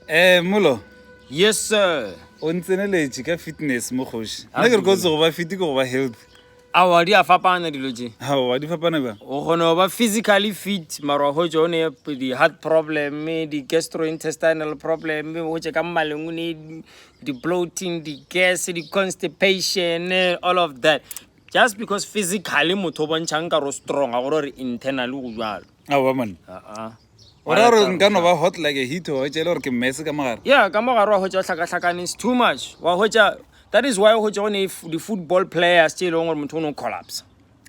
um molo yes sir o ntseneletše ka fitness mokgoši nna ke re kotse go ba fiti ke go ba health awa di a fapana dilo tse awa di fapana ba o kgona go ba physically fit mara go tse o ne di-heart problem di-gastrointestinal problem go tse ka mmaleng o ne di-bloating di-gas di-constipation all of that just because physically motho o bontšhang ka ro strong a gore gore internally go jalo a ba monna aa o ra gore nka no ba hot like a heat wa hwetša e le gore ke mmese ka mogare ya ka mogare wa hwetša o hlakahlakane is too much wa hwetša that is why o hwetša go ne di-football players tše e leng gore motho o ne o collapse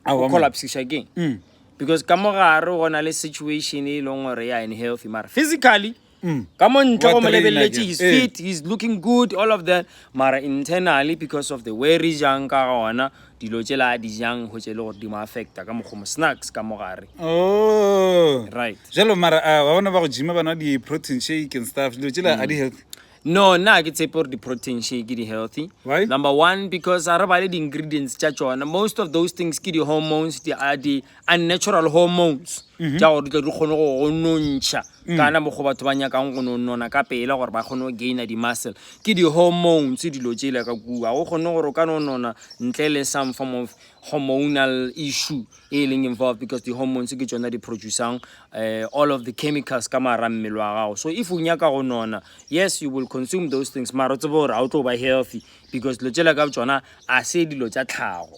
o collapsiša keng mm. because ka mogare go na le situation e leng gore ya unhealthy mara physically Mm. ka mo ntle go mo lebeleletše his fit eh. he's looking good all of that mara internally because of the way re jang ka gona dilo tše la di jang go tše le gore di mo affecta ka mokgomo snacks ka mo gare oh. right jalo mara ah, ba bona ba go jima ba nwa di-protein shake and stuff dilo tše la a di mm. healthy no nna ke tsepe gore di-protein shake di healthy Why? number one because a re ba le di-ingredients tša tsona most of those things ke di-hormones di unnatural hormones tša gore di tle di kgone go go nontšha kana mo go batho ba nyakang go no nona ka pela gore ba kgone go gaina di-muscle ke di-hormones dilo tšele ka kua go kgone gore o ka no nona ntle le some form of hormonal issue e leng involved because di-hormones ke tsona di producang uh, all of the chemicals ka mara mmele wa gago so if o nyaka go nona yes you will consume those things mara o tsebe gore ga o tlo ba healthy because dilo tšele ka tsona a se dilo tša tlhago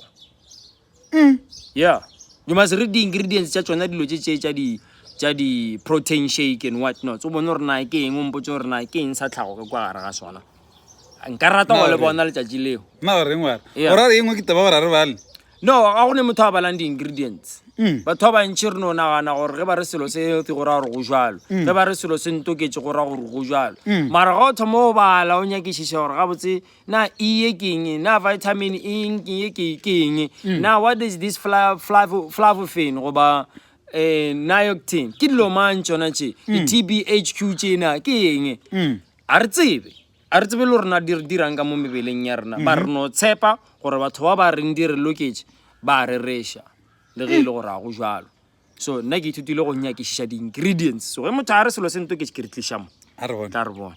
Mm. Yeah. You must read the ingredients tša tšona dilo tše tše tša di tša di protein shake and what not. O bone gore na ke eng o mpotse gore na ke eng sa tlhago ka kwa gare ga sona. Nka rata go le bona letšatši leo. Na o reng wa re? O ra re engwe ke taba gore a re bale. No, ga go ne motho a balang di ingredients. Mm. Batho ba bantši re no nagana gore ge ba re selo se healthy go ra gore go jalo. Mm. Ge ba re selo se ntoketse go ra gore go jalo. Mm. Mara ga o thoma o bala o nyakišiša gore gabotse na iye ke eng na vitamin e eng ke ye ke ke eng mm. na what is this flavofin goba eh nioctin ke dilo mang tsona tše mm. tbhq tsena ke eng mm. a re tsebe a re tsebe le rona di re dirang ka mo mebeleng ya rena ba re mm-hmm. no tshepa gore batho ba ba reng di re loketse ba re resha le ge e le gore a go jalo so nna ke ithutile go nyakešiša di-ingredients so ge motho a re selo se ntoketse ke re tlišamo tla re bona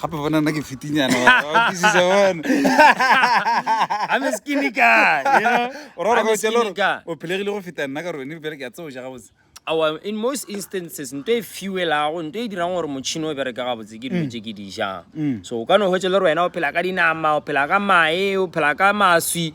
gape bona nna ke fitinyana o phelegile go feta nna ka rone bjale ke a tseo ja gabotse our in most instances nto e fuelago nto e dirang gore motšhini o bereke gabotse ke dilo mm. tše ke di jang mm. so o ka no hwetse le rena o phela ka dinama o phela ka mae o phela ka maswi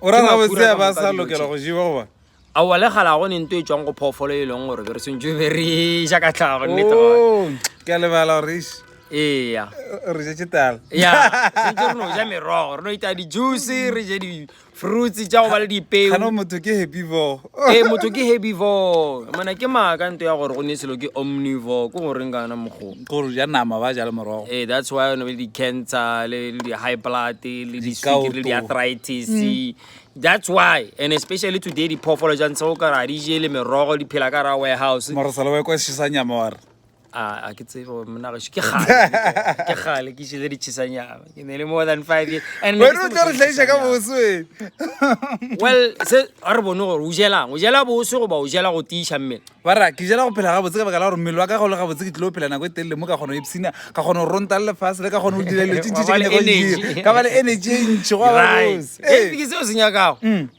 O ra gabotse a ba sa lokela go jewa goba? Aowa, le kgale ga go ne nto e tšwang go phoofolo e leng gore be re swantšwe be re e ja ka tlhago, nnete gone. Oh, ke a lebala gore eish. Eya. Re je tšetala. Ya, swantšwe re no ja merogo, re no itaya di-juice, re je di-fruits tša go ba le dipeo. Gana motho ke happy bo. ee motho ke herbivore mona ke maaka nto ya gore go ne selo ke omnivore ko goreng kana mokgoo gore ja nama ba jale morogo ee that's why one be le di-cancer le di-high blood le disukiri le di-arthritis mm. that's why and especially today diphoofolo ja ntse go kara di jele merogo di phela ka ra warehouse morosalowekosisa nyamaware a ke tsebe gore monna gašo ke gale ke gale ke šile ditšhisanyana ke ne le more than five years and wena o tla re tlhaisa ka boso well se a re bone gore o jelang o jela boso goba o jela go tiiša mmele ba ra ke jela go phela gabotse ka baka la gore mmele wa ka go le gabotse ke tlile go phela nako e telele mo ka kgona go epsina ka kgona go ronta le lefase le ka kgona go dira dilo tse ntšhi tse ke ne go dira ka ba le energy e ntšhi go ba bose ee ke seo se nyakago mm.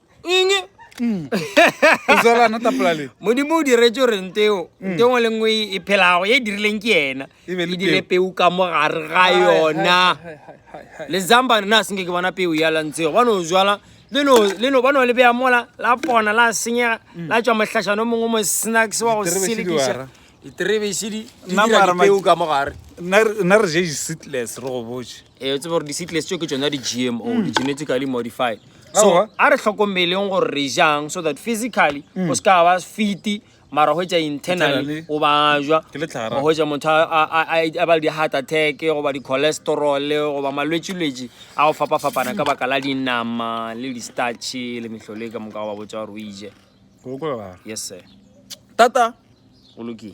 eng mm. modimo o diretse gore nteo mm. nte ngwe le nngwe e phelago e dirileng ke ena e, e dire peu ka mo gare ga yona le zamba rena a senke ke bona peu ya lantshego ba no jala leno ba no le beya mola la pona la senyega mm. la tswa mohlašano mongwe mo snacks wa go selekiša diterebešidi di dira dipeu ka mo gare nna re je seatless re go botse Eh, tsebe gore di-seedless tšeo ke tsona di-gmo mm. di-genetically modified so a re tlhokomeleng gore re jang so that physically mm. o se ka ba fiti mara go etsa internally o bajwa go etsa motho a ba le di-heart attack goba di-cholesterol goba malwetsilwetsi a go fapa-fapana ka baka la dinama le di-starche le metlhole ka moka go ba botsa gore o ije yes sir tata o lokile